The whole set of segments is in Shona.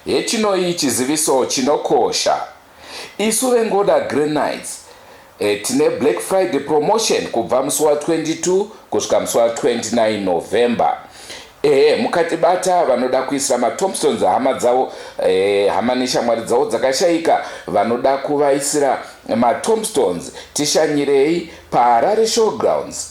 Hechinoi chiziviso chinokosha. Isu veNgoda Green Knights tine Black Friday promotion kubva musi wa 22 kusvika musi wa 29 November. Ehe mukatibata vanoda kuisira maTombstones hama dzavo eh, hama neshamwari dzavo dzakashaika vanoda kuvaisira maTombstones tishanyirei paHarare Showgrounds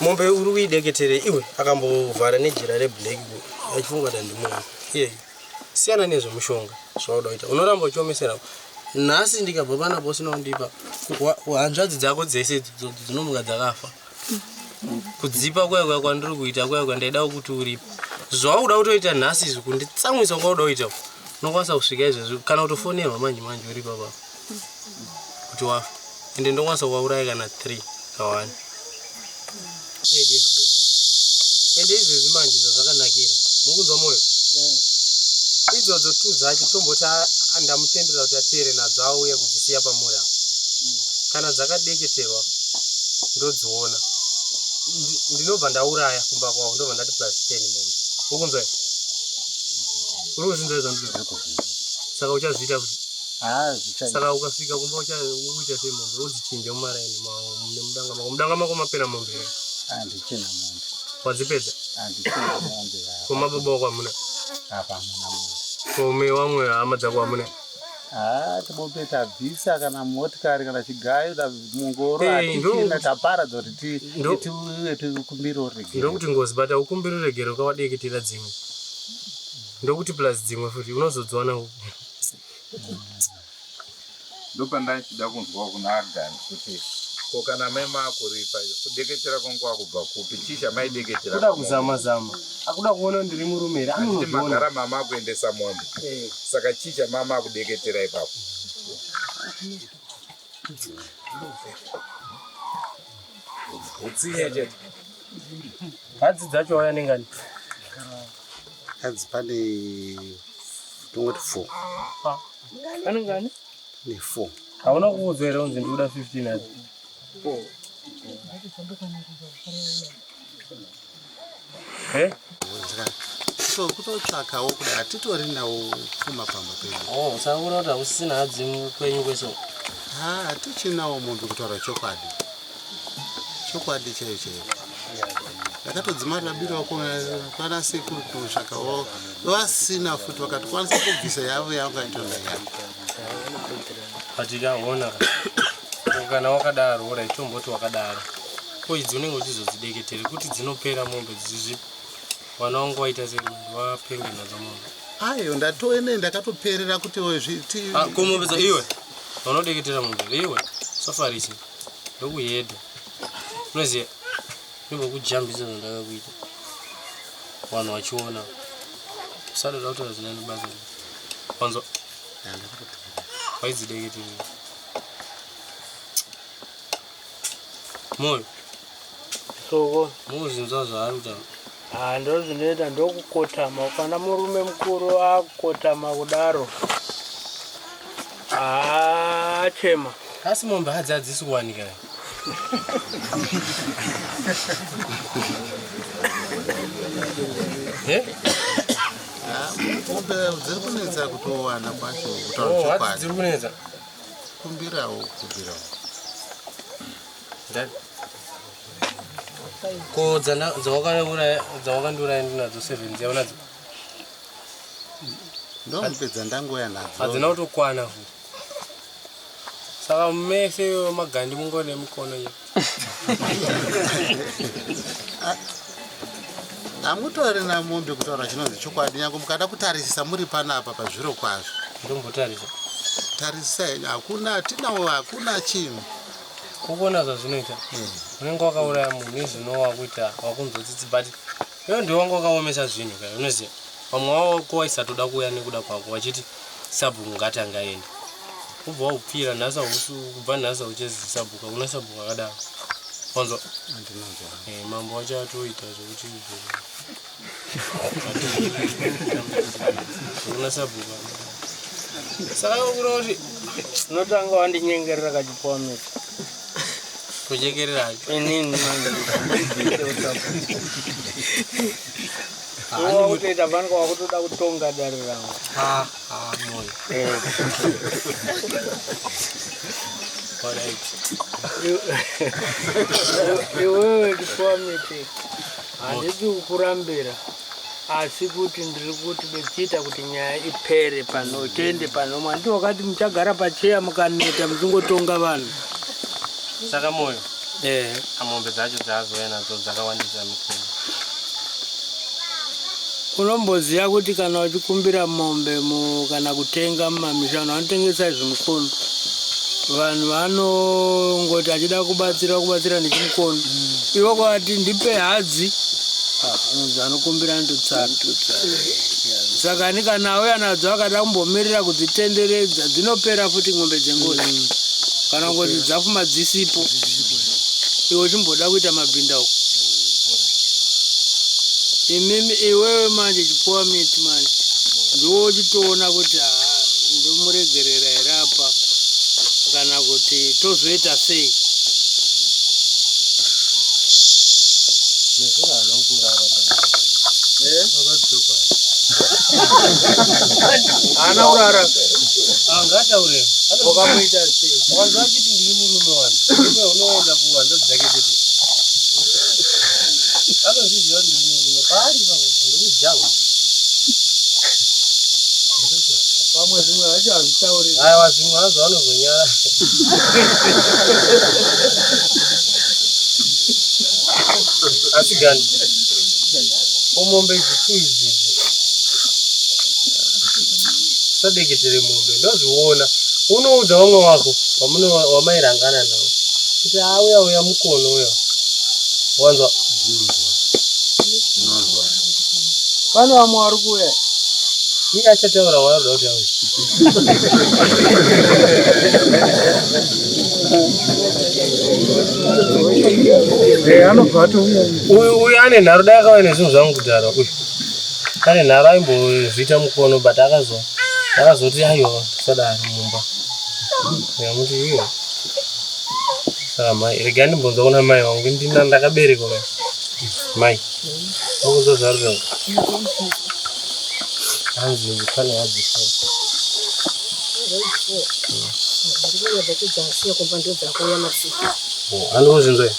mombe uri kuideketere iwe akambovhara nejira reblack achifunga kuti andimunhu iyeyi siyana nezvemushonga zvauda kuita unoramba uchiomesera nhasi ndikabva panapa usina kundipa hanzvadzi dzako dzese dzinomuka dzakafa kudzipa kuya kuya kwandiri kuita kuya kuya ndaida kuti uripo zvauda kutoita nhasi izvi kunditsamwisa kwauda kuita unokwanisa kusvika izvezvi kana kutofonerwa manje manje uripa papa kuti wafa ende ndokwanisa kuvauraya kana 3 kawani ende izvezvi manje zvazvakanakira mukunzwa mwoyo idzodzo tu dzacho tomboti andamutendera kuti ateere nadzo auye kudzisiya pamuri apo kana dzakadeketerwa ndodziona ndinobva ndauraya kumba kwavo ndobva ndati plus ten mombe ukunzwa uri kuzinza izvo ndizvo saka uchazviita kuti haa zvichaita saka ukasvika kumba uchaita sei mombe wodzichinja mumaraini nemudanga mako mudanga mako mapera mombe here handichina mombe wadzipedza handichina mombe koma baba wako hamuna apa hamuna mombe kome wamwe hama dzako hamuna haa tibombe tabvisa kana motikari kana chigayo mungoro hatichina taparadza kuti tiuye tikumbire uregere ndokuti ngozi bata ukumbire uregere ukawadeketera dzimwe ndokuti plus dzimwe futi unozodziwana uku ndopandachida kunzwa kuna Agan kuti ko kana mai makuripa kudeketera kwangu kwakubva kupi chii chamaideketera kuda kuzama zama akuda kuona ndiri murume here anoti magara mama akuendesa mombe eh. saka chii chamama akudeketera ipapo Utsiye chete. Hadzi dzacho waya nengani? Hadzi pane tongoti four. Pane ngani? Pane four. Hauna kuudzwa here unzi ndikuda 15 hadzi? Four. Eh? So kutotsvakawo kudai hatitori nawo pfuma pamba pedu. Oh, usaona kuti hausisina hadzi kwenyu kweso. Ha, hatichinawo mombe kutaura chokwadi. Chokwadi chaiyo chaiyo. Ndakatodzima rabiro wako kwana sekuru kutsvakawo vasina futi vakatokwanisa kubvisa yavo yavangaitona yako. Patikaona kana wakadaro ora itomboti wakadaro. ko idzi unenge uchizodzideketere kuti dzinopera mombe dzizvi mwana wangu waita sei wapenge nadzo mombe ayo ndatoene ndakatoperera kuti zviti ah, ko mombe dza iwe vanodeketera mombe iwe safarisi ndokuhedha unoziva nembokujambisa zvandakakuita vanhu vachiona usada tautaura zina nebasa wanzwa waidzideketere Moyo. Soko. Muzinza zvaanza. Ah, ndo zvinoita ndokukotama. Kana murume mukuru akukotama kudaro. Ah, chema. Asi mombe hadzi hadzisi kuwanika. Eh? Ah, mombe dziri kunetsa kutowana kwacho kutaura oh, chokwadi. Dziri kunetsa. kumbirawo kumbirawo ko dzawakandura ndinadzo seven dziya unadzo ndomupedza ndangoya nadzo hadzina kutokwana saka mese magandi mungone mikono iyo hamutorina mombe kutaura chinonzi chokwadi nyange mukada kutarisisa muri panapa pazviro kwazvo ndombotarisa tarisisa henyu hakuna hatinawo hakuna chinhu ukuona zvazvinoita hmm. unenge wakauraya munhu izvino wakuita wakunzwa tsitsi but Iwe ndiwe wanga wakaomesa zvinhu kaya unoziva vamwe wawako waisatoda kuuya nekuda kwako wachiti sabhuku ngatanga aende kubva waupfira nhasa kubva nhasa uchezi sabhuka kuna sabhuka akadaro wanzwa eh, mambo wacho atoita zvekuti kuna sabhuka saka kuroti unotanga wandinyengerera kachipoameka kujekerera inini wakutoita vanenge wakutoda kutonga dare ravo moyo iwewe kifuamiti handidi kukurambira asi kuti ndiri kuti bechiita kuti nyaya ipere pano tende pano mwandi wakati muchagara pacheya mukaneta muchingotonga vanhu saka moyo eh. amombe dzacho dzaazouya nadzo dzakawandisa mikuru unomboziva kuti kana uchikumbira mombe kana kutenga mumamisha vanhu vanotengesa izvi mukuru vanhu vanongoti achida kubatsira kubatsira nechimukono mm. ivo kwavati ndipe hadzi ah, anonzi anokumbira anotitsara saka ni kana auye anadzo akada kumbomirira kudzitenderedza dzinopera futi n'ombe dzengozi mm. kana kuti dzafuma dzisipo iwe uchimboda kuita mabhinda uko imimi iwewe manje chipuwa miti manje ndiwo uchitoona kuti haa ndomuregerera here apa kana kuti tozoita sei ana urara angataure ukamuita sei asi gani omombe idzi tu idzi sadeketere mombe ndozviona unoudza vamwe wako Vamune wamairangana navo kuti auya uya mukono uya wanzwa pane vamwe vari kuuya iye achataura waanoda kuti auya uyu ane nharo dai akauya nezvinhu zvangu kudhara uyu ane nharo aimbozviita mukono but akazoti aiwa sadaro mumba Nyamuti iwe. Saka mai, rega ndimbonza kuna mai wangu ndina ndakabereka mai. Mai. Mukuzo zvarira. Hanzi ndifane hadzi. Anozvinzwa.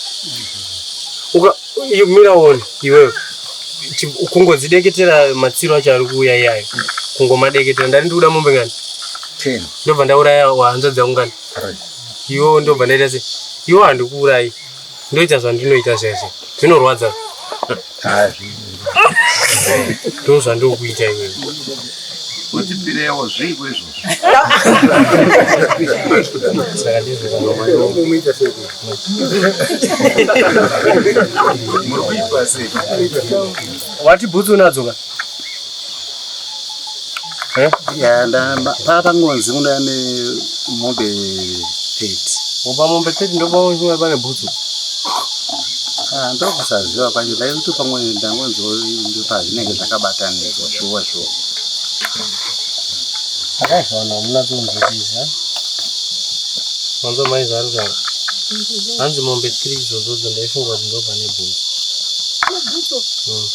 Uka mira one iwewe. Kungodzideketera matsiro acho ari kuuya iyayo. Kungomadeketera ndari ndikuda mombe ngani? 10. ndobva ndauraya wahanza dzaungana iwo ndobva ndaita se iwo handikuurayi ndoita zvandinoita zvese zvinorwadza ndo zvandokuita iwe wati bhutsu unadzoka Eh? Yeah, patangonzi kuda nemombe 30 oba mombe 30 ndobaoa pane bhutsu ah, ndokusaziva kwacho ndaikuti pamwe ndangonzwa pazvinenge zvakabatanidzwa shuwa shuwa akazoona muna tonzvitiza manzo mai zvaruka hanzi mombe 3 idzodzo dzondaifunga kuti ndopane bhutsu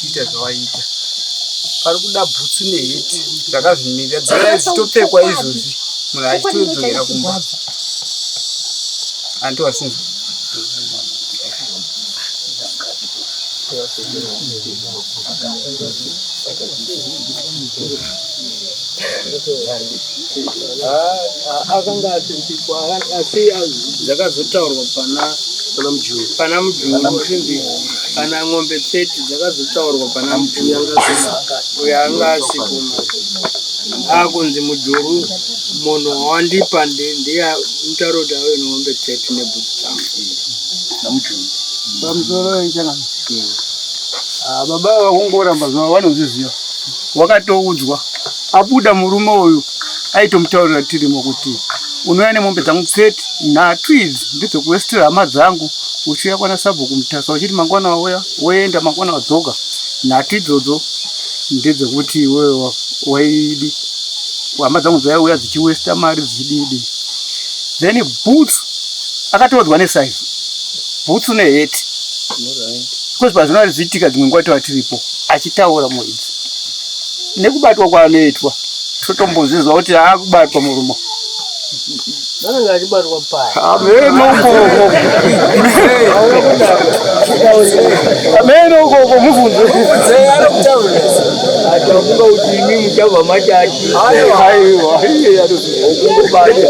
kuita zvawaiita pari kuda bhutsu neheti zvakazvimirira dzivai zvichitopfekwa izvozvi munhu achitodzokera kumba anti wasinzi Thank you. akanga asinzikwa asi dzakazotaurwa pana pana mujuru pana mujuru kuti kana ng'ombe 30 dzakazotaurwa pana mujuru uyo anga asipo akunzi mujuru munhu wandipa ndiye mutauro kuti ave ng'ombe 30 nebhuti dzangu pamusoro wechangano hmm. ah, baba vakungoramba zuva vanozviziva wakatoudzwa Abuda murume uyu aitomutaurira tirimo kuti unouya nemombe dzangu tseti nhatu idzi ndidzo kuwestira hama dzangu uchiuya kwana sabhuku mutasa uchiti mangwana wauya woenda mangwana wadzoka nhatu idzodzo ndedzekuti iwewe waidi hama dzangu dzaiuya dzichiwesta mari dzichididi then boots akatoodzwa nesaizi boots neheti because pazvino ari zviitika dzimwe nguva tova tiripo achitaura muidzi nekubatwa kwaanoitwa totombozvizwa kuti akubatwa murumo amene ukoko mubvunzo achafunga kuti imi muchabva machachi okungobata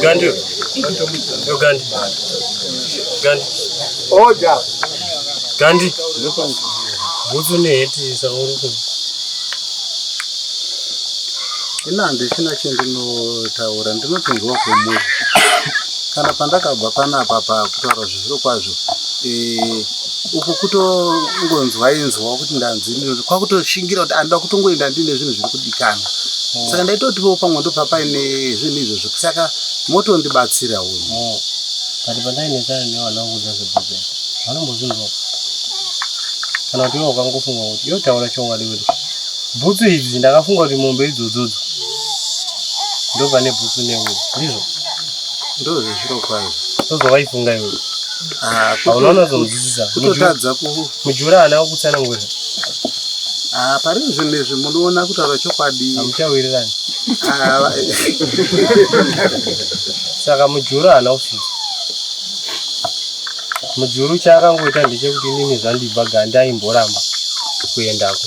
Gandhi. Yo Gandhi. Gandhi. Oja. Gandhi. Bhutsu neheti sauriko. Ina handisina chendinotaura ndinotonzwa kwemunhu kana pandakabva panapa pakutaura zvizviro kwazvo eh, uku kutongonzwa inzwa kuti ndanzi kwakutoshingira kuti anoda kutongoenda ndine zvinhu zviri kudikana mm. saka ndaitotivo pamwe ndobva paine zvinhu izvozvo saka motondibatsira uyu mm. but pandainetsana nevana vakuudza zvebhuku vanombozvinzwa kana kuti ivo ukangofunga kuti yotaura chokwadi kuti bhutsu idzi ndakafunga kuti mombe idzodzodzo ndobva nebhutsu neuyo ndizvo ndozvezviro kwazvo ndozvawaifunga iwe Ah, unoona zvinonzwisisa kutotadza mujura haana kukutsanangurira ah, pari zvinhu izvi munoona kutaura chokwadi hamuchawirirani ah, saka mujuru haana kusvika mujuru chaakangoita ndechekuti inini zvandibva ganda aimboramba kuendako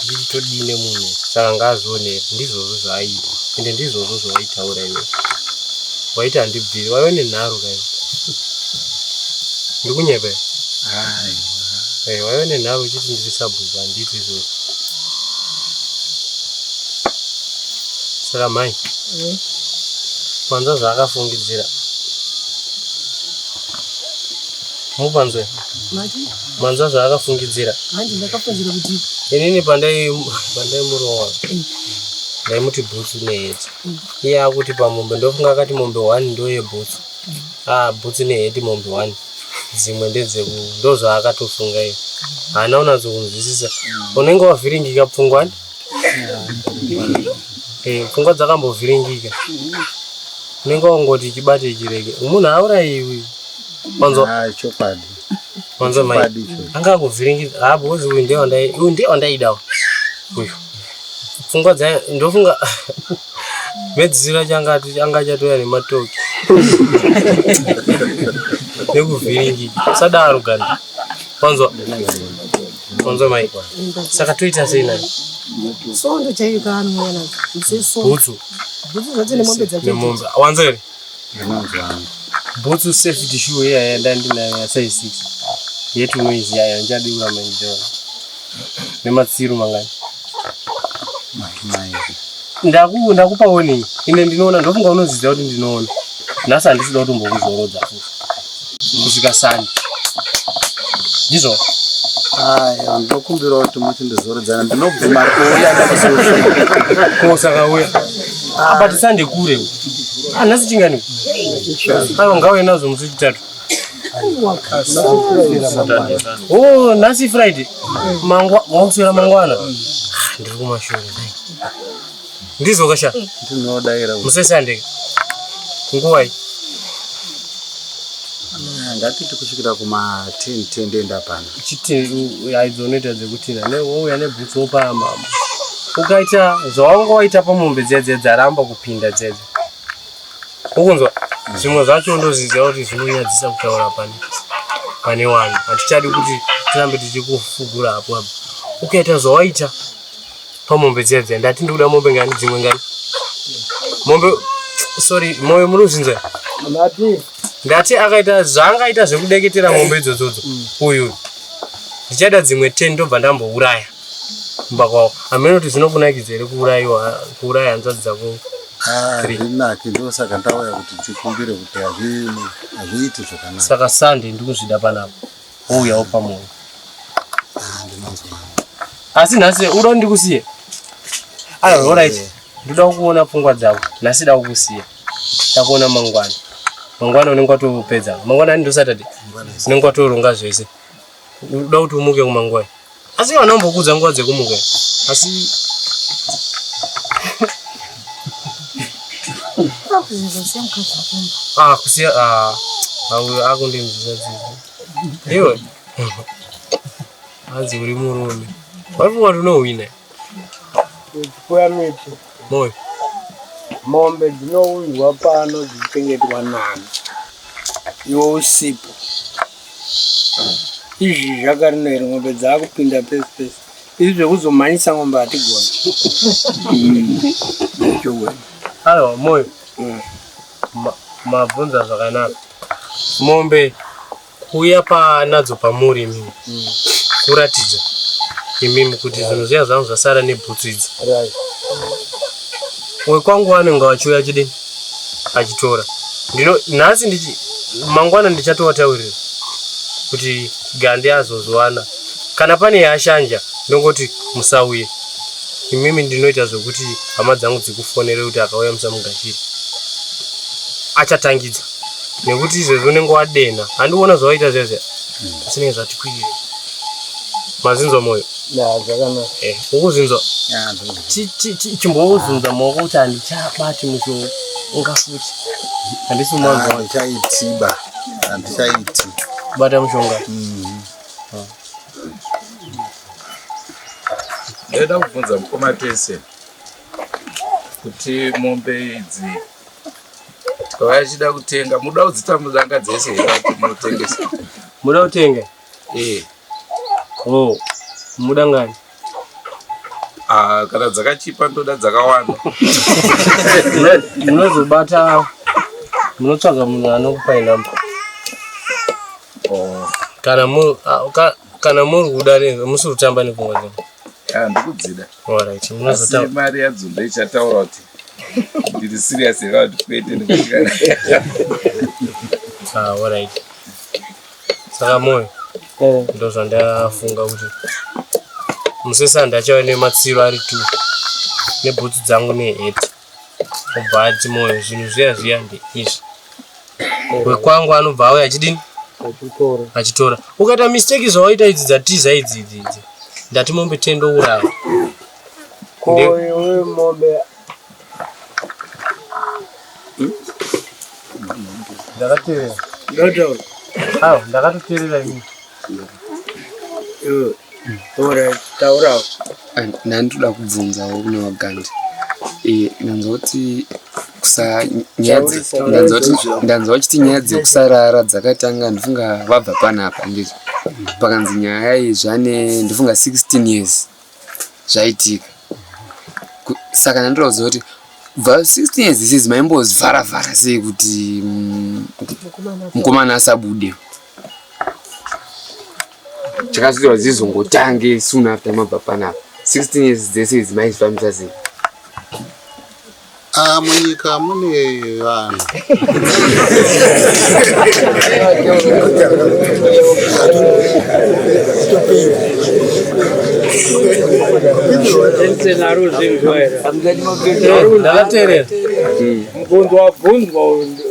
ndichitodii nemunhu saka ngaazoone ndizvozvo zvaaita ende ndizvozvo zvaaitaura iwe waiti handibviri waive nenharo kaii Ndikunyepe. Hai. Hey, eh, waive nenharo uchiti ndiri sabhuku handiti izvozvo. Saka mhai. Mm. Panza zvaakafungidzira. Mupanzwe. Manza zvaakafungidzira. Handi ndakafungira kuti inini pandai pandai murowa. Mm. Ndaimuti bhutsu neyedza. Mm. Iye akuti pamombe ndofunga akati mombe 1 ndoye bhutsu. ah bhutsu ne heti mombe wani dzimwe ndedzeku ndozvaakatofunga iyo haana unatso kunzwisisa unenge wavhiringika pfungwa ni eh, pfungwa dzakambovhiringika unenge wangoti chibate chirege munhu auraiwi wanzwa ah, chokwadi wanzwa mai anga akuvhiringika ha ah, bhozi uyu ndiye wandaidawo uyu pfungwa dzayo ndofunga Medzisira changati changa chatouya nematoki nekuvhiringi sadaro gani wanzwa wanzwa mai saka toita sei nani sondo chaiyo kaanouya nazo bhutsu bhutsu zvacho nemombe dzacho wanzwa here nemanzwa angu bhutsu safety shoe iya yandandinayo yasize six yetinoizi yayo ndichadi kuramba ndichiona nematsiru mangani ndakupa warning ine ndinoona ndofunga unoziva kuti ndinoona nhasi handisida kutombokuzorodza futi kusvika sani ndizvo aya ndokumbirawo kuti muti ndizoredzana ndinobvuma kuuya kosakauya but sande kure anhasi ah, chingani aiwa ngauye nazvo musi wechitatu o oh, nhasi friday mangwa wakuswera mangwana ah, ndiri kumashure Ndizo kasha. Ndinodaira. Musesande. Nguvai. Ngatiti kusvikira kuma 10 10 ndenda pana. Chiti aidzo unoita dzekuti na ne wouya ne boots opa mama. Ukaita zvawanga waita pamombe dziya dziya dzaramba kupinda dziya dziya. Ukunzwa? Zvimwe zvacho ndoziziva kuti zvinonyadzisa kutaura pane pane wani. Hatichadi kuti tirambe tichikufugura hapo hapo. Ukaita zvawaita pamombe dziya dziya ndati ndikuda mombe ngani dzimwe ngani mombe sorry moyo muri kuzvinzwa ndati akaita zvaangaita zvekudeketera mombe idzodzodzo mm. uyu ndichaida dzimwe ten ndobva ndambouraya kumba kwavo hameno kuti zvinokunakidza here kuurayiwa kuuraya hanzvadzi dzako hazvinaki ah, ndosaka ndauya kuti tikumbire kuti hazviiti zvakanaka saka sande ndikuzvida panapa wouyawo pamwewo asi nhasi uda ndikusiye aiwa orit ndoda kuona pfungwa dzavo nhasi da kukusiya takuona mangwana mangwana unenge watopedza mangwana ani ndosaturday unenge watoronga zvese uda kuti umuke kumangwana asi vana umbokudza nguva dzekumuka asi ah, kusiya ah, auyo akundinzwisa dzidzi iwe hanzi uri murume wari vati unohwina Kuya miti. Moyo. Mombe dzinounzwa pano dzichichengetwa nani. Iwe usipo. Izvi zvakarina here mombe dzakupinda pese pese. Izvi zvekuzomhanyisa mombe hatigoni. Ayo moyo. Mm. Mabvunza zvakanaka. Mombe kuuya panadzo pamuri imimi mm. kuratidza imimi kuti yeah. zvinhu zviya zvangu zvasara nebhutsu idzi right. wekwangu anenge achiuya achidini achitora ndino nhasi ndichi mangwana ndichatowataurira kuti gandi azozviwana kana pane yashanja ndongoti musauye imimi ndinoita zvekuti hama dzangu dzikufonere kuti akauya musamugashiri achatangidza nekuti izvezvi unenge wadenha handiona zvawaita zviya zviya zvisinenge mm. zvati kwirire mazinzwa moyo eh, ukuzinzwa chimbouzinza maoko kuti handichabati mushonga unga futi handisi mwanzwahandichaitiba handichaiti bata mushonga mm-hmm. ah. ndaida kubvunza mukoma tese kuti mombe idzi vachida kutenga muda kudzitambo dzanga dzese munotengesa muda kutenga eh oh muda ngani ah kana dzakachipa ndoda dzakawanda munozobata munotsvaga munhu anokupa inamba oh kana mu ah, kana muri kuda ne musiri kutamba nekungozi ah ndikudzida all right munozotamba mari yadzo ndoichataura kuti Ndiri serious here kuti kwete ndikushikana. Ah, all right. Saka moyo Eh, ndo zvandafunga kuti musesandi achava nematsiro ari two nebhutsu dzangu nehet obva ati moyo zvinhu zviya zviya ndeizvi wekwangu anobva auya achidini achitora. achitora ukaita mistake zvawaita idzi dzatiza idzi idzi idzi ndati mombe tendo uraya koiwe mombe ndakateerera ndotaura awa ndakatoteerera ini iwe ora taurawo ndandoda kubvunzawo kune vagandi Eh, ndanzwa kuti kusa nyaya dze- Taurisa, ndanzwa kuti- taurisa. ndanzwa vachiti nyaya dzekusarara dzakatanga ndifunga vabva panapa ndizvo pakanzi nyaya iyi zvane ndifunga 16 years zvaitika saka ndandoda kuziva kuti bva 16 years isizi maimbozvara vhara sei kuti mm, mukomana asabude chakazviziva zizongotange soon after mabva panapa 16 years dzese idzi maizvifambisa sei Ah, munyika mune vanhu ndavaterera mubvunzo wabvunzwa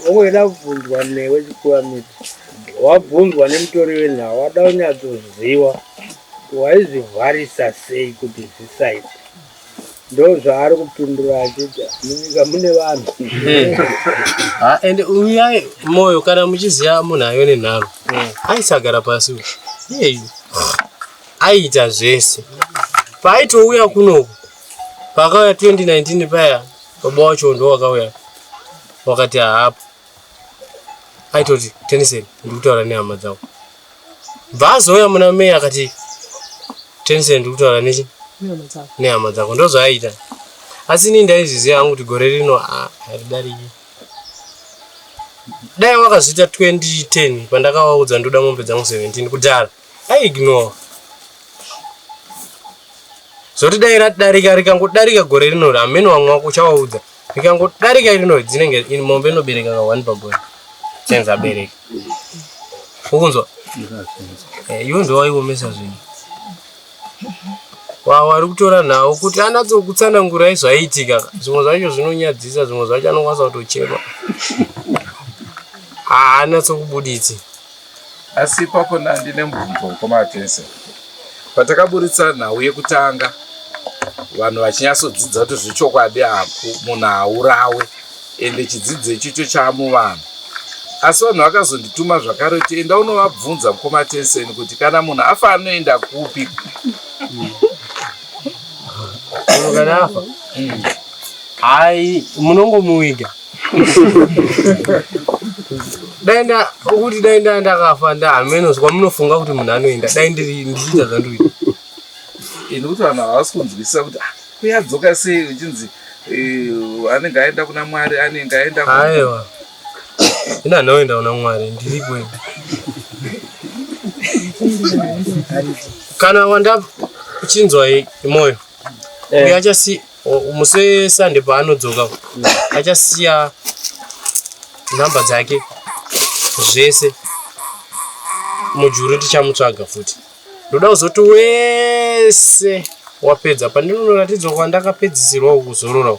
ongweda kubvunzwa newe chikuwa miti wabvunzwa nemutori wenhau wada unyatsoziva waizvivharisa sei kuti zvisaite ndozvaari kupindura achiti munyika mune vanhu ah, and uyai moyo kana muchiziva munhu ayo nenharo mm. aisagara pasi iyeyu aiita zvese paaitouya kunoku paakauya 2019 paya baba wacho ndo wakauya wakati haapo aitoti Tensen ndiri kutaura nehama dzavo bva azouya muna mei akati Tensen ndiri kutaura nechi nehama dzako ndozvaaiita asi inini ndaizviziva hangu kuti gore rino ah, haridariki dai wakazviita 2010 pandakavaudza ndoda mombe dzangu 17 kudhara aiignore zvoti dai ratidarika rikangodarika gore rino ramene wamwe wako uchavaudza so rikangodarika iri noise dzinenge ini mombe inobereka ka one pamboyo senza abereka ukunzwa eh, iwe ndowaiomesa zvinhu wawari kutora nhau kuti anatsokutsanangurai zvaiitika zvimwe zvacho zvinonyadzisa zvimwe zvacho anokwanisa kutochema haanatsokubuditsi Asi ipapo Nandi nemubvunzo mukoma Attention. Patakaburitsa nhau yekutanga vanhu vachinyatsodzidza kuti zvechokwadi haku munhu haurawe ende chidzidzo ichocho chaamuvanhu asi vanhu vakazondituma zvakare kuti enda unovabvunza mukoma Attention kuti kana munhu afa anoenda kupi Munhu kana afa mm. hai munongomuviga dai kuti dai ndaa ndakafa nda hameno zva munofunga kuti munhu anoenda dai ndiri ndichiita zvandiri ini kuti vanhu havasi kunzwisisa kuti ah, kuyadzoka sei uchinzi eh, anenge aenda kuna mwari anenge aenda aiwa ini anoenda kuna mwari ndiri kwedu kana wanda uchinzwa moyo eh. uyo achasi Musi weSunday paanodzoka achasiya nhamba dzake zvese mujuru tichamutsvaga futi ndoda kuzoti wese wapedza pandinonoratidzwa kwandakapedzisirwa kuzorora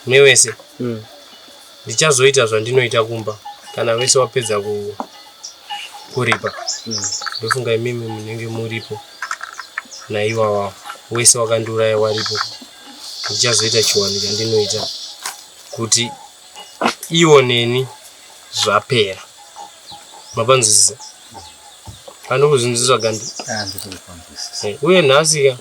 newese mm. ndichazoita zvandinoita kumba kana vese wapedza ku kuripa hmm. ndofunga imimi munenge muripo naiwawa wese wakandiuraya waripo ndichazoita chiwani chandinoita kuti iwo neni zvapera mapanzwisisa kana kuzvinziswa gandi ah, eh, uye nhasika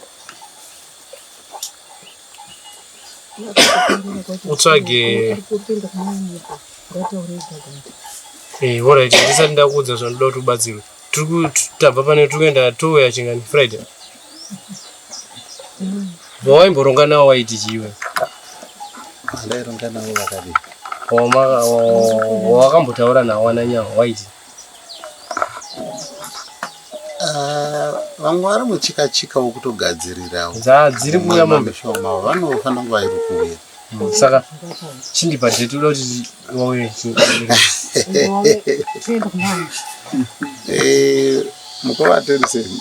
utsvage eh, orit ndisati ndakuudza zvandoda kuti ubatsirwe tabva pane tiri kuenda touya chingani friday vawaimboronga nawo waiti chiwe ndaironga nawo vakadii wakambotaura nawo ananyawo waiti Ah, vamwe vari muchika chika wokutogadzirirawo dziri kuuya mombe shoma vanofanira kunge vairi kuuya hmm, saka chindipa date uda kuti vauye eh, mukova atorisei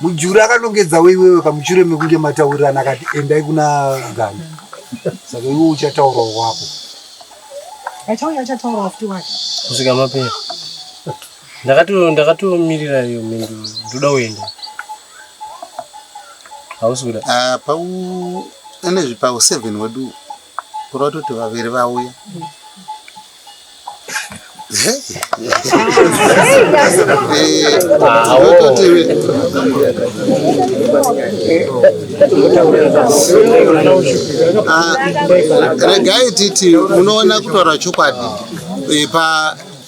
Mujuru akanongedza weiwewe kamuchure mekunge mataurirana akati endai kuna Ganda. Saka iwe uchataura wako. Achauya achataura futi wake. Kusvika mapera. Ndakato ndakatomirira iyo mhinduro ndoda kuenda. Hausi kuda. Ah, pau ane zvipawo 7 wedu. Kuri vatoti vaviri vauya. Ah, regai titi munoona kutaura chokwadi pa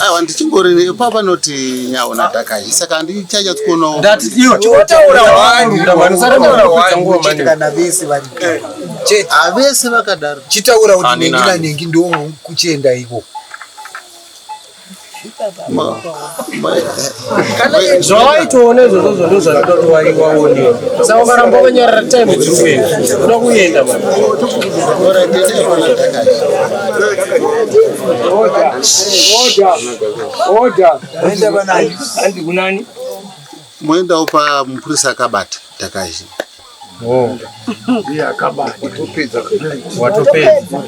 aiwa ndichingori papa noti nyawo nadhakayi saka handichanyatsokuonawo kana vese vari chete havese vakadaro chitaura kuti Anina. nengi nanengi ndoo kuchienda iko zvawaitoona izvozvo zvondo zvanoda kuti waiwaonewa saka ukaramba wakanyarara time dziri kuenda unoda kuenda moendawo pamupurisa akabata takazii Oh. Iye akabata. Watopedza. Watopedza.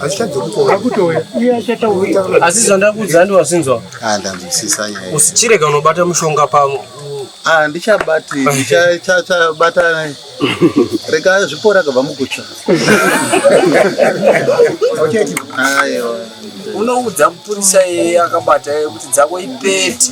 Asichadzokutora kutouya. Iye achataurira. Asi zvandakuudza ndi wasinzwa. Ah, ndanzwisisa nyaya. Usichirega unobata mushonga pamwe. Ah, ndichabati, ndichabata. Rega zvipora kabva mukutsva. Okay. Ayo. Unoudza mupurisa yeye akabata kuti dzako ipete.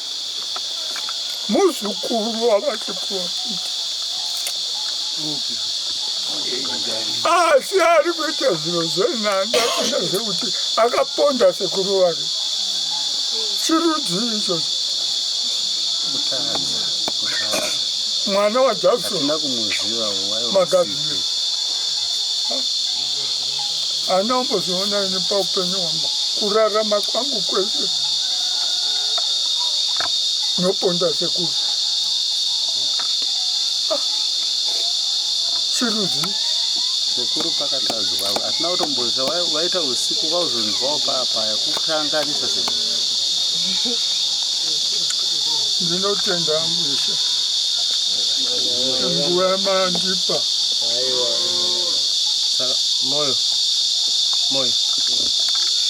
muzukuru wavachiporofita asi ari kuita zviro zvenhanda kuita zvekuti akaponda sekuru wake chirudzii ichocho mwana wajackson magadzire Haana kumbozoona ini paupenyu hwangu kurarama kwangu kwese noponda sekuru ah, chiruzi sekuru pakatadzwa hatina kutomboza waita usiku vauzonzwawo paapaya kukanganisa sekuru ndinotenda mushe nguva yamandipa moyo moyo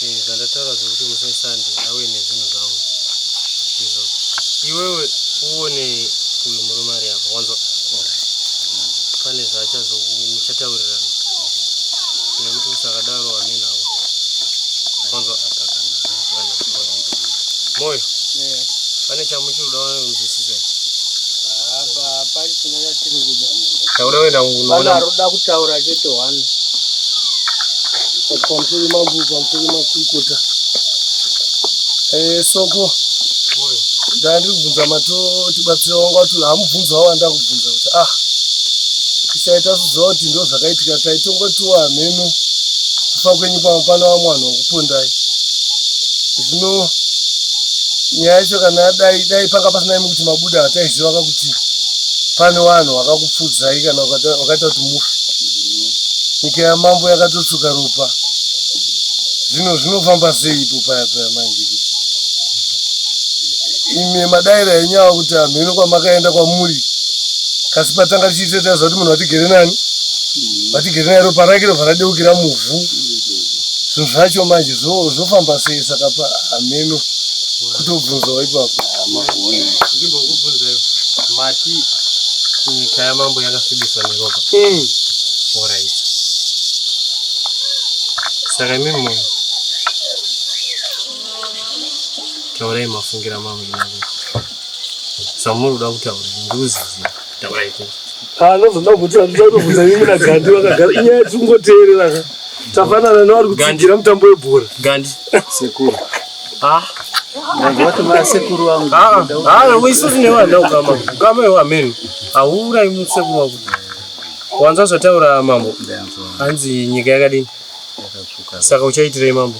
eh, zvandataura zvekuti musi wesande awe nezvinhu zvangu izvo iwewe uone uyu murume ari apa wanzwa pane zvaachazouchataurirana nekuti usakadaro amenhavo wanzwa moyo pane chamuchiri kuda kunzwisisa Taura wena unoona. Anoda kutaura chete one. Pamusoro mambo pamusoro makurukota. Eh soko. Ndandiri kubvunza mato tibatsira wangu wati hamubvunza wanda kubvunza kuti ah tichaita kuziva kuti ndo zvakaitika taitongotiwa hameno kufa kwenyu pamwe pano vamwe vanhu vakupondai zvino nyaya yacho kana dai dai panga pasina imi kuti mabuda hataiziva kakutii pane vanhu vakakupfudzai kana vakaita kuti mufe nyika yamambo yakatotsuka ropa zvino zvinofamba sei ipo paya paya manje kuti imi madaira enyu ava kuti anhu ino kwamakaenda kwamuri kasi patanga tichiita taiziva kuti munhu vatigere nani vatigere naye ropa rake rova radeukira muvhu zvinhu zvacho manje zvofamba sei saka pa hameno kutobvunzawo ipapo ndimbokubvunzai mati nyika yamambo yakasvibiswa neropa mm. orit saka imi munhu taurai mafungira mambo zvamuri kuda kutaura ndikuziziva anozoda kuti andizanobvunza mimi nagandi vakagara inyaya tikungoteerera ka tafanana nevari kutsigira mutambo webhora gandi sekuru ah. isusu nevana ukama ukama iwo ameno hauurai musekuru wako wanza zvataura mambo hanzi nyika yakadini saka uchaitirei mambo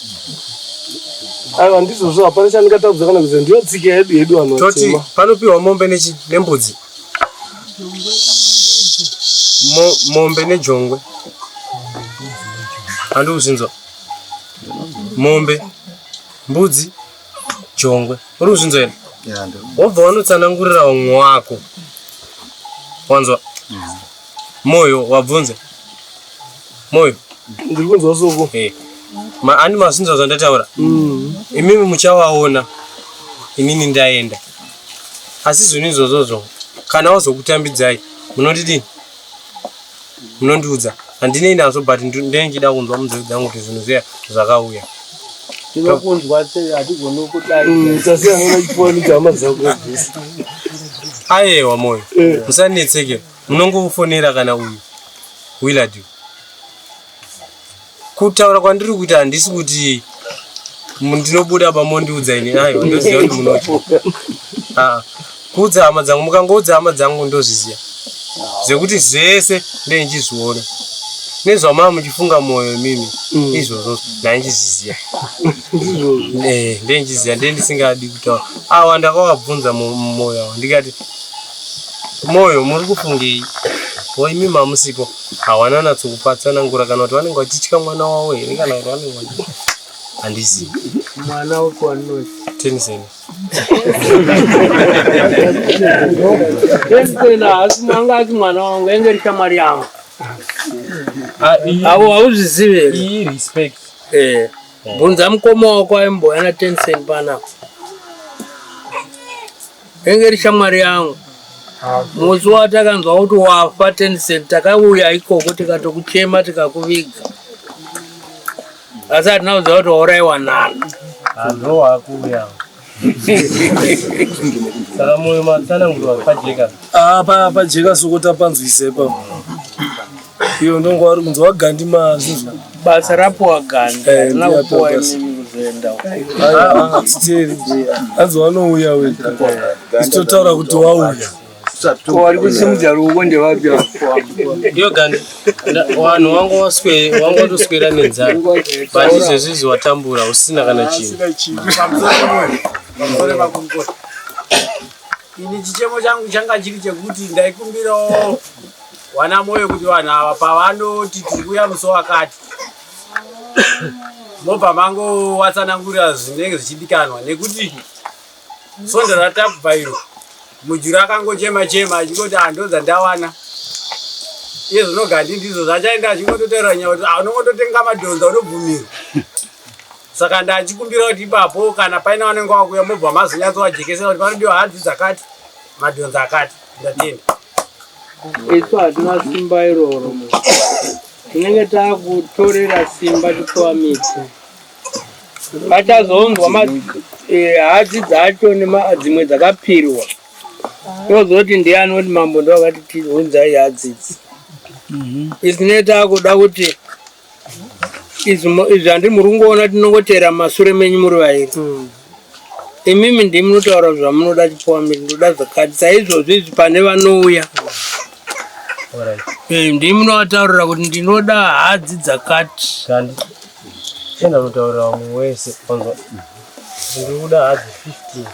aiwa ndizvozvo hapana chandingatadza kana kuziva ndiyo tsika yedu yedu vanhu toti vatema panopiwa mombe nechi nembudzi Mo- mombe nejongwe handi kuzvinzwa mombe mbudzi jongwe uri kuzvinzwa here Yeah, ndiri- wobva wanotsanangurira umwe wako wanzwa Moyo wabvunza Moyo ndiri kunzwa soko hey. Ma, ani masinzwa zvandataura mm. imimi muchawaona inini ndaenda asi zvinhu izvozvozvo kana wazokutambidzai munondidini munondiudza handinei nazvo but ndinenge chida kunzwa munzeve dzangu kuti zvinhu zviya zvakauya tinokunzwa sei hatigoni kudai mm, tasiyanana chifoni chama dzako ayewa moyo eh. musanetseke Munongofonera kana uyu Willard. Kutaura kwandiri kuita handisi kuti ndinobuda pamondiudza ini ayo ndoziva kuti munoti ah, kuudza hama dzangu mukangoudza hama dzangu ndozviziva zvekuti zvese ndeinchizviona nezvamaa muchifunga mwoyo imimi mm. izvozvo ndainchizviziva eh, ndeinchiziva ndee ndisingadi kutaura awa ndakawabvunza mumwoyo awo ndikati Moyo muri kufungei? Ko imi mamusipo hawana natso kupatsanangura kana kuti vanenge vachitya mwana wavo here kana kuti vanenge vachitya handizivi mwana wako anoti teniseni teniseni haasi mwanga ati mwana wangu enge rishamwari yangu ah, avo hauzvizivi here iyi respect eh bvunza mukoma wako aimboya na teniseni panapa Renge iri shamwari yangu musi watakanzwa kuti wafa tencent takauya ikoko tikatokuchema tikakuviga asi hatina kuziva kuti wauraiwa nani ah, pajeka soko tapanzwise pa Iyo ndongo wari kunzi wagandi mazi. Basa rapo wagandi. Eh, na upo zenda. Ah, tiri. Hanzi wanouya wewe. Sitotaura kuti wauya. Wari kusimudza ruoko ndevapi apo. Iyo gandi. Wanhu wangu waswe wangu watoswera nenzara. But izvezvi watambura usina kana chinhu. Usina chinhu. Pamsana mwe. Ini chichemo changu changa chiri chekuti ndaikumbirawo Wana moyo kuti vanhu ava pavanoti tiri kuya musi wakati mobva mangowatsanangurira zvinenge zvichidikanwa nekuti svondo ratakubva iro mujuru akangochema chema achingoti hando ah, dzandawana iye zvinogandi ndizvo zvachaenda achingototaura nyaya kuti ah, unongototenga madhonza unobvumirwa saka ndachikumbira kuti ipapo kana paina vanenge wakuya mobva mazonyatso wajekesera kuti panodiwa hadzi dzakati madhonza akati isu hatina simba iroro tinenge takutorera simba tipiwa miti vachazonzwa eh, hadzi dzacho dzimwe dzakapirwa tozoti ndiye anoti mambo ndovakati tiunzai hadzidzi mhm. isine takuda kuti izvi handi muri kungoona tinongotera masure menyu muri vairi hmm. imimi ndi munotaura zvamunoda chipowa miri ndoda zvakati saizvozvi izvi pane vanouya eh, ndi munovataurira kuti ndinoda hadzi dzakati enda mutaurira wamwe wese onzwa ndikuda hadzi 15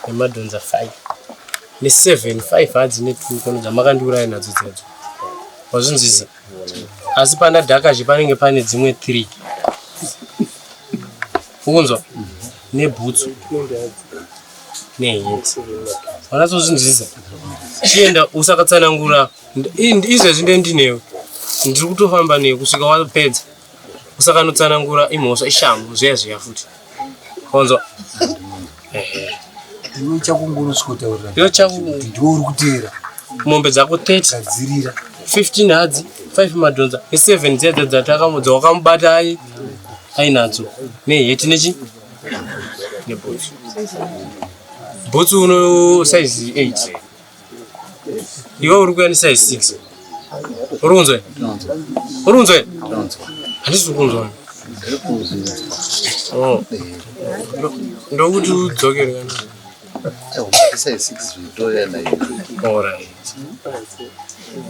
nemadhonza 5 ne7 5 hadzi ne2 kono dzamakandiuraya nadzo dzedzo wazvinzwisa asi pandadhakazve panenge pane dzimwe three ukunzwa nebhutsu nehenzi wanatsozvinzwisa chienda usakatsanangura izvezvi ndendinewe ndiri kutofamba newe kusvika wapedza kusakanotsanangura imhosva ishamhu zviya zviya futi konzwa iwe chakungonoskotaurira iwe chaku ndiwe uri kuteera mombe dzako 30 gadzirira 15 hadzi 5 madhonza e7 dziya dza dzatakamudza wakamubata ai ainadzo neheti nechi nebhutsu bhutsu uno size 8 iwe uri kuyanisa i six uri kunzwa uri kunzwa handisi uri kunzwa oh. ndokuti udzokere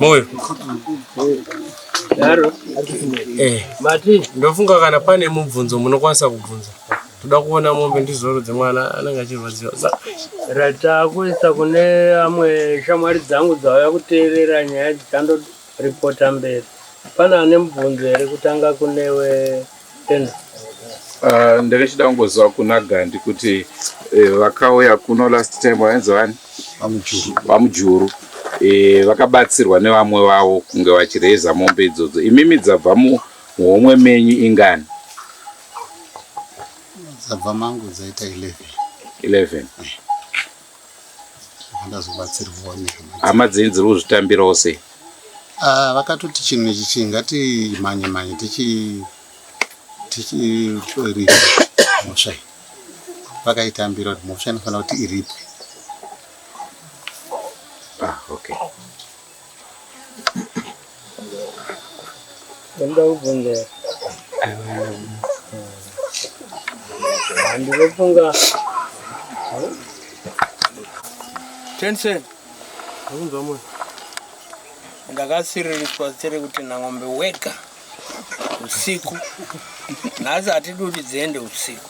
moyo eh. ndofunga kana pane mubvunzo munokwanisa kubvunza Toda kuona mombe ndizoro dzemwana anenge achirwadziwa za. Ratakuisa kune amwe shamwari dzangu dzauya kuteerera nyaya idzi tando reporta mberi. Pana ane mubvunzo here kutanga kunewe Tenzi? Uh, ndakachida kungoziva kuna Gandi kuti eh, vakauya kuno last time vainzi vani vamujuru eh, vakabatsirwa nevamwe vavo kunge vachireza mombe idzodzo imimi dzabva muhomwe menyu ingani dzabva mangu dzaita 11 11 ndazobatsirwawo nehama hama dzenyu dziri kuzvitambirawo sei Ah, vakatoti chinhu ichi chi ngatimhanye mhanye tichi tichiripwe mhosva iyi vakaitambira kuti mhosva inofanira kuti iripwe Ah, okay Ndoda kubvunza handinofunga Tensen, Akunzwa mwe. ndakasiririswa zita rekuti Nangombe wega usiku. Nhasi hatidi kuti dziende usiku.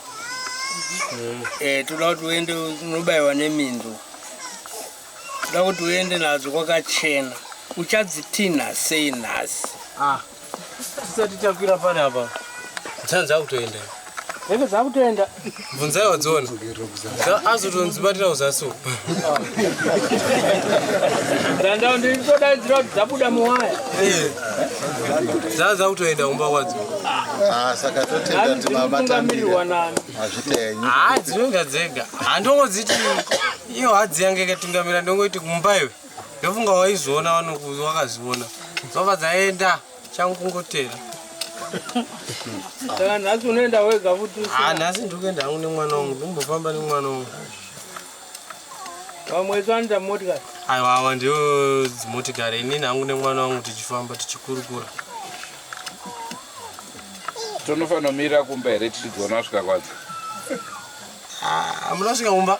Eh, toda kuti uende unobaiwa neminzwa. Ndoda kuti uende nadzo kwakachena. Uchadzitinha sei nhasi? Ah. Tisati takwira pane apa. Dzanzi dzakutoenda. Heke dzakutoenda. Bvunzai wadziona. Azotonzi batira uzasi. Ndandao ndiri kudaidzira kuti dzabuda muwaya. Eh. Dzanzi dzakutoenda kumba kwadzo. Ah, saka totenda kuti baba tamira. Hazvitenyi. Ah, dzinonga dzega. Handongodziti iyo hadzi yange ikatungamira ndongoiti kumba iwe ndofunga waizoona vanokuzi wakaziona dzova dzaenda changu kungotera saka nhasi unoenda wega futi ah, nhasi ndiri kuenda hangu nemwana wangu ndimbofamba nemwana wangu vamwe tsvanda motikari aiwa awa ndio dzimotikari inini hangu nemwana wangu tichifamba tichikurukura tonofanomira kumba here tichidziona svika kwadzo ah, amunasvika kumba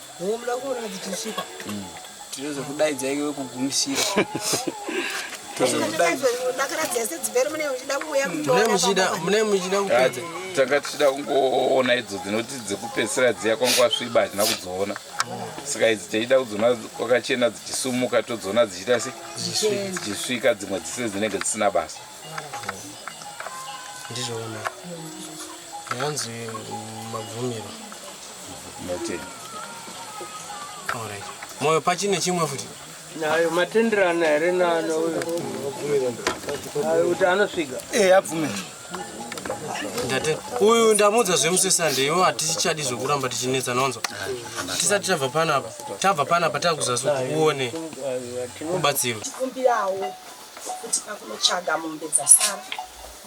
Muda kuona dzichisvika. Tinozo kudaidza iwe wekugumisira. Mune muchida kupedza. Tanga tichida kungoona idzo dzinoti dzekupedzisira dziya kwanga sviba hatina kudziona. Saka idzi tichida kudziona kwakachena dzichisumuka todziona dzichiita se dzichisvika dzimwe dzise dzinenge dzisina basa. Ndizvo ona. Yanzi mabvumiro. Noted. All right. Moyo pachine chimwe futi. Nayo matenderana here nana uyo. Ayo kuti anosvika. Eh, abvume. Ndate. Uyu ndamudza zvemuswe Sunday iwo hatichadi zvekuramba tichinetsa nonzo. Tisati tabva panapa. Tabva panapa takuzasu kuone. Kubatsirwa. Kumbirawo kuti pakunotsvaga mombe dzasara.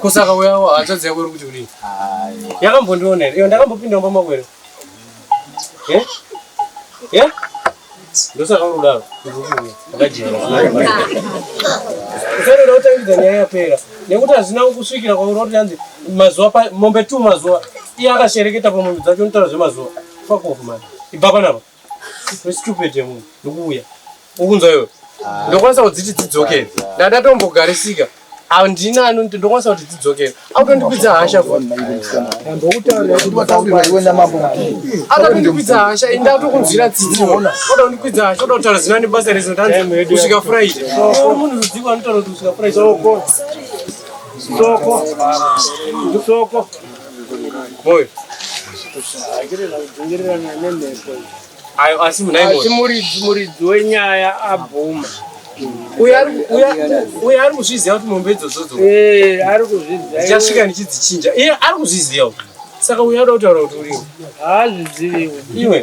kusaka uyawo hatsvadzi yako iri kuti kudii yakambondiona here iyo ndakambopinda mumba mako here eh? ye eh? ndosaka uri kudaro usaenda utangidza nyaya yapera nekuti hazvina kusvikira kwauri woti yanzi mazuva mombe two mazuva iye akashereketa pamombe dzacho unotaura zvemazuva fakofu mani ibva panapa Stupid yemunhu ndikuuya ukunzwa iwe ah. ndokwanisa kudziti dzidzokere ndandatombogarisika handina anonti ndokwanisa kuti dzidzokere akutondipidza hasha akatondipidza hasha ini ndatokunzwira tsitsiona oda kundipidza hasha oda kutaura zina nebasa rezo ndanzi kusvika friday munhu rudziko anotaura kuti kusvika friday soko soko soko Moyo. Ayo asi munai asi moyo. muridzi muridzi wenyaya abvuma Uya ari uya uya ari kuzviziva kuti mombe idzodzo dzo. Eh, ari kuzviziva Ndichasvika ndichidzichinja. Iye ari kuzviziva. Saka uya ari kutaura kuti uriwe. haazviziviwo Iwe.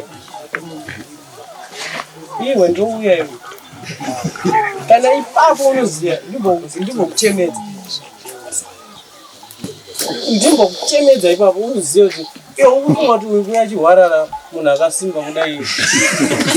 Iwe ndouya iwe. Kana ipapo unoziva ndimbokuchemedza. ndimbo kuchemedza ipapo uzive kuti iwe ukufunga kuti uyu kuya chihwarara munhu akasimba kudai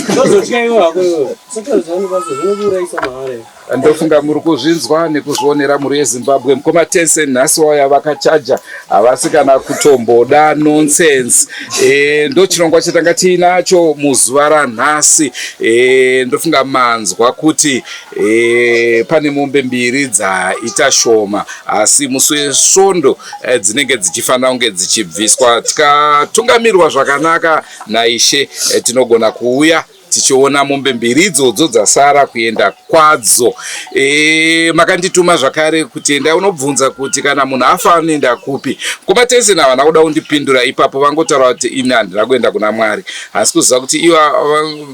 ndozotya iwe hako iwe sotozivanibasa zvinokuurayisa mahara iwe ndofunga muri kuzvinzwa nekuzvionera mhuri yezimbabwe mukoma tense nhasi wauya vakachaja havasi kana kutomboda nonsense e, ndochirongwa chatanga tiinacho muzuva ranhasi e, ndofunga manzwa kuti E, pane mombe mbiri dzaita shoma asi musi wesvondo e, dzinenge dzichifanira kunge dzichibviswa tikatungamirwa zvakanaka naishe e, tinogona kuuya tichiona mombe mbiri idzodzo dzasara kuenda kwadzo e, makandituma zvakare kuti enda unobvunza kuti kana munhu afa anoenda kupi mkoma tese navana kuda kundipindura ipapo vangotaura kuti ini handina kuenda kuna mwari hasi kuziva kuti iva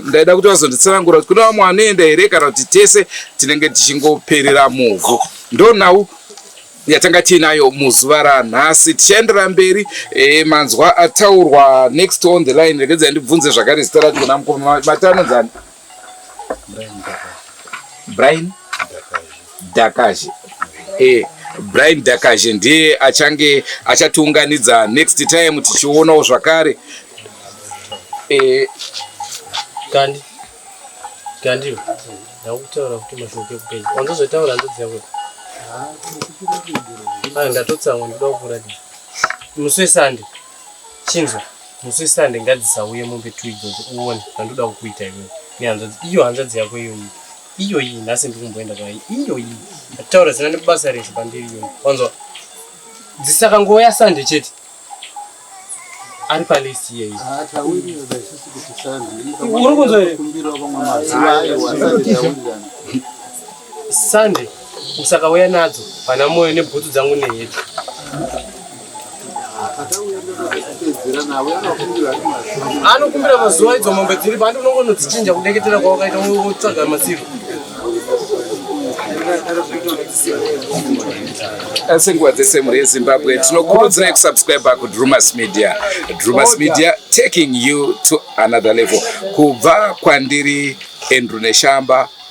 ndaida kuti vazonditsanangura kuti kune vamwe vanoenda here kana kuti tese tinenge tichingoperera muvhu ndonhau yatanga tiinayo muzuva ranhasi tichaendera mberi e, manzwa ataurwa next on the line regedzai ndibvunze zvakare zita racho kuna mukoma matano dzani brian Dakaje. Eh, Brian Dakaje ndiye achange achatiunganidza next time tichionawo zvakare. Eh, Kandi. Kandi. Ndakutaura kuti mashoko ekupedza. Wandozotaura ndodziya kuti. Ah, ndatotsamwa ndoda kukuratidza. Musi weSunday. Chinzwa. Musi weSunday ngadzisauye mombe tu idzodzo uone zvandoda kukuita iwewe. Nehanzvadzi iyo hanzvadzi yako iyoyi. iyo iyi nhasi ndiri kumboenda kwa iyo iyi ndataura zina nebasa resu pandiri iyo wanzwa dzisakangoya sande chete ari palist iyeyi uri kunzwa here sande usakauya nadzo pana moyo nebhutsu dzangu neheti anokumbira mazuva idzo mombe dziri pandi unongonodzichinja kudeketera kwawakaita wotsvaga masivo asi nguva dzese mhuri yezimbabwe tinokurudzirai kusubscribe kudrumas media drumas media taking you to another level kubva kwandiri andrew neshamba